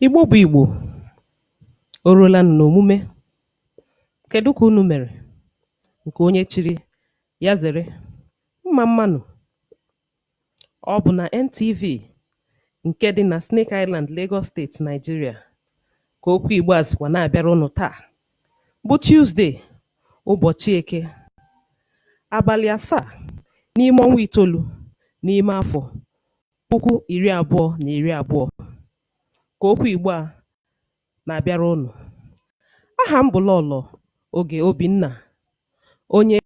Igbo bụ Igbo, o ruola nụ n'omume. Kedụ ka unu mere? Nke onye chiri ya zere. Mma mma nụ. Ọ bụ na NTV nke dị na Snake Island, Lagos State, Nigeria ka okwu Igbo a sikwa na-abịara unu taa bụ Tuesday, ụbọchị Eke, abalị asaa n'ime ọnwa itoolu n'ime afọ puku iri abụọ na iri abụọ ka okwu Igbo a na-abịara unu. Aha m bụ Lọlọ Oge Obinna, onye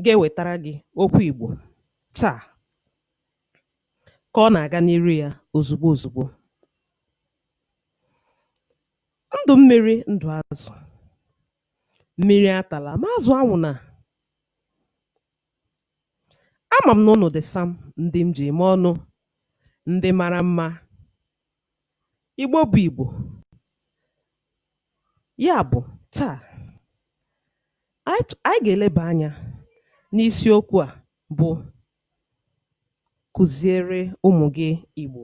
ga-ewetara gị okwu Igbo taa ka ọ na-aga n'iru ya ozugbo ozugbo. Ndụ mmiri ndụ azụ, mmiri atala ma azụ anwụna. Ama m na unu dị sam, ndị m ji eme ọnụ, ndị mara mma, Igbo bụ Igbo. Ya bụ, taa, anyị ch- anyị ga-eleba anya n'isiokwu a bụ kụziere ụmụ gị Igbo.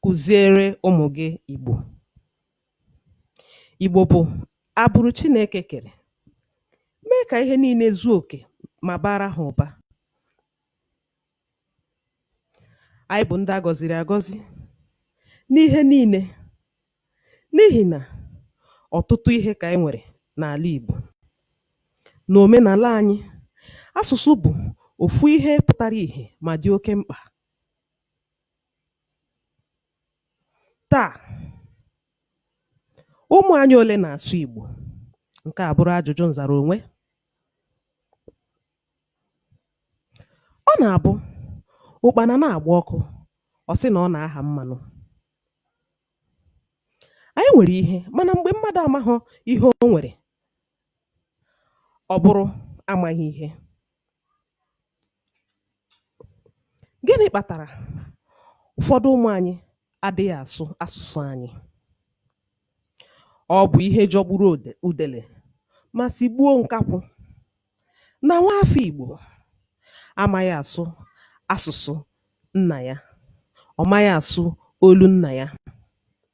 Kụziere ụmụ gị Igbo. Igbo bụ agbụrụ Chineke kere, mee ka ihe niile zuo oke ma baara ha ụba. Anyị bụ ndị a gọziri agọzi n'ihe niile n'ihi na ọtụtụ ihe ka anyị nwere n'ala Igbo. N'omenala anyị, asụsụ bụ ofu ihe pụtara ihe ma dị oke mkpa. Taa, ụmụ anyị ole na-asụ Igbo? Nke a bụrụ ajụjụ nzara onwe. Ọ na-abụ ụkpana na-agba ọkụ, ọ sị na ọ na-aha mmanụ. Anyị nwere ihe mana mgbe mmadụ amaghị ihe o nwere, ọ bụrụ amaghị ihe. Gịnị kpatara ụfọdụ ụmụ anyị adịghị asụ asụsụ anyị? Ọ bụ ihe jọgburu udele ma sigbuo nkakwụ na nwaafọ Igbo amaghị asụ asụsụ nna ya, ọ maghị asụ olu nna ya.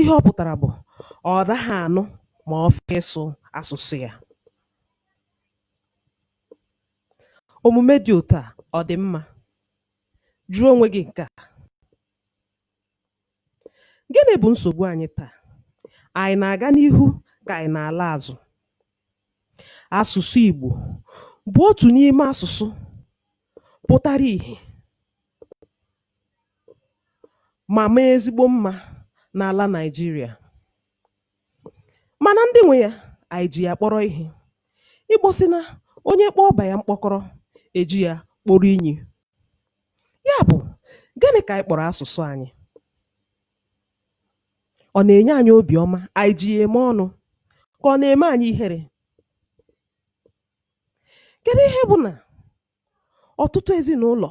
ihe ọ pụ̀tàrà bụ̀ ọ̀ daghị ànụ mà ọ fọ ịsụ̇ asụ̀sụ yȧ òmùme dị òtu à ọ̀ dị̀ mmȧ jụọ onwe gị ǹke à gịnị bụ̀ nsògbu anyị taà ànyị nà-àga n'ihu kà ànyị nà-àla àzụ asụ̀sụ ìgbò bụ̀ otù n'ime asụ̀sụ pụtara ìhè mà maa ezigbo mmȧ n'àla Nigeria. Mànà ndị nwė yȧ ànyị jì yà kpọrọ ihė. Igbò sị na onye kpọọ ọbà yà mkpọkọrọ, è ji yȧ kporo inyì. Ya bụ̀, gịnị kà ànyị kpọ̀rọ̀ asụ̀sụ anyị? Ọ na-enye anyị obi ọma, anyị ji ya eme ọnụ, ka ọ na-eme anyị ihere? Kedụ ihe bụ na ọtụtụ ezinụlọ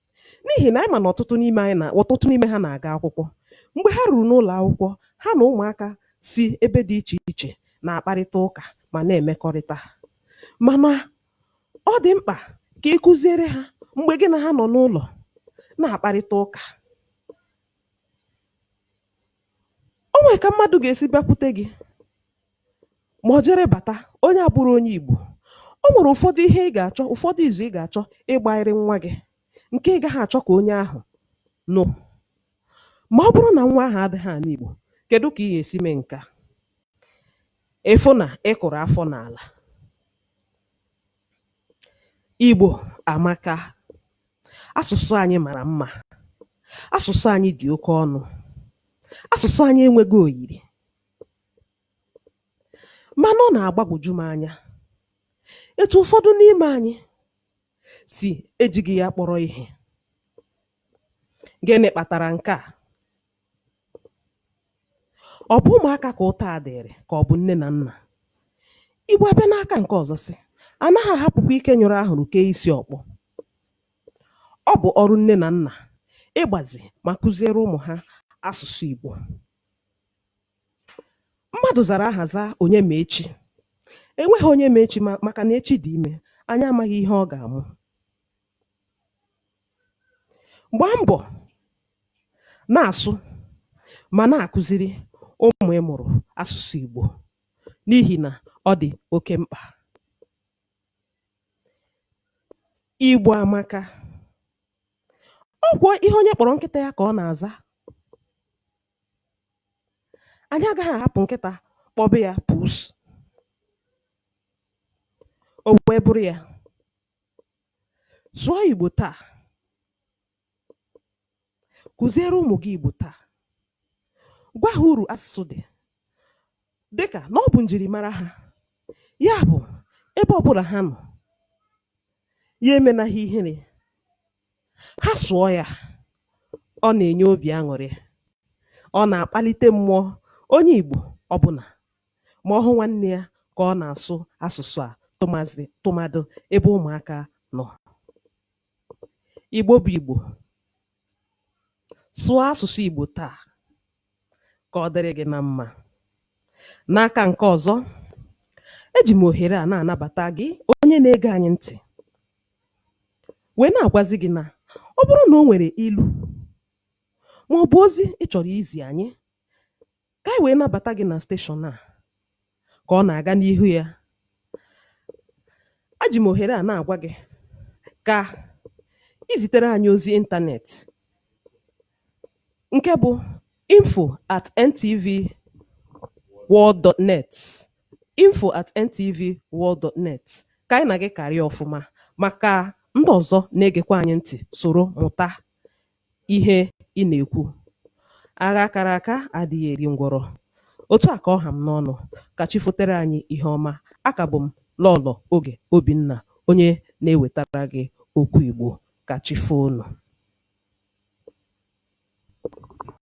N'ihi na anyị ma na ọtụtụ ọtụtụ n'ime ha na-aga akwụkwọ. Mgbe ha ruru n'ụlọ akwụkwọ, ha na ụmụaka si ebe dị iche iche na-akparịta ụka ma na-emekọrịta. Mana ọ dị mkpa ka ị kụziere ha mgbe gị na ha nọ n'ụlọ na-akparịta ụka. O nwee ka mmadụ ga-esi bịakwute gị, ma ọ jere bata onye abụghị onye Igbo o nwere ụfọdụ ihe ị ga-achọ ụfọdụ izu ị ga-achọ ịgbaịrị nwa gị nke ị gaghị achọ ka onye ahụ nụ ma ọ bụrụ na nwa ahụ adịghị anụ Igbo kedu ka ị ga-esi mee nke a ị fụ na ị kụrụ afọ n'ala Igbo amaka asụsụ anyị mara mma asụsụ anyị dị oke ọnụ asụsụ anyị enweghị oyiri Mana ọ na-agbagwoju m anya etu ụfọdụ n'ime anyị si ejighị ya kpọrọ ihe. Gịnị kpatara nke a? Ọ bụ ụmụaka ka ụta a dịịrị ka ọ bụ nne na nna? Igbo abịa n'aka nke ọzọ sị, a naghị ahapụkwa ike nyụrụ ahụrụ kee isi ọkpọ. Ọ bụ ọrụ nne na nna ịgbazi ma kụziere ụmụ ha asụsụ Igbo. Mmadụ zara aha zaa onye ma echi. Enweghị onye ma echi maka na echi dị ime. Anyị amaghị ihe ọ ga-amụ. Gbaa mbọ na-asụ ma na-akụziri ụmụ ị mụrụ asụsụ Igbo n'ihi na ọ dị oke mkpa. Igbo amaka. Ọ kwa ihe onye kpọrọ nkịta ya ka ọ na-aza. anyị agaghị ahapụ nkịta kpọbe ya pus o wee bụrụ ya sụọ igbo taa kụziere ụmụ gị igbo taa gwa ha uru asụsụ dị dịka na ọ bụ njirimara ha ya bụ ebe ọbụla ha nọ ya emena ha ihere Ha sụọ ya, ọ na-enye obi aṅụrị, ọ na-akpalite mmụọ onye Igbo ọbụla ma ọ hụ nwanne ya ka ọ na-asụ asụsụ a tụmadụ ebe ụmụaka nọ. Igbo bụ Igbo, sụọ asụsụ Igbo taa! Ka ọ dịrị gị na mma. N'aka nke ọzọ, eji m ohere a na-anabata gị onye na-ege anyị ntị wee na-agwazi gị na ọ bụrụ na o nwere ilu ma ọ bụ ozi ị chọrọ izi anyị ka anyị wee nabata gị na steshọn a ka ọ na-aga n'ihu ya eji m ohere a na-agwa gị ka i zitere anyị ozi ịntanetị nke bụ info at ntv world dot net info at ntv world dot net ka anyị na gị karịa ọfụma maka ndị ọzọ na-egekwa anyị ntị soro mụta ihe ị na-ekwu. Agha kara aka adịghị eri ngwọrọ. Otu a ka ọ ha m n'ọnụ. Ka chi fotere anyị ihe ọma. Aka bụ m Lọọlọ Oge Obinna, onye na-ewetara gị okwu Igbo. Ka chi foo nụ.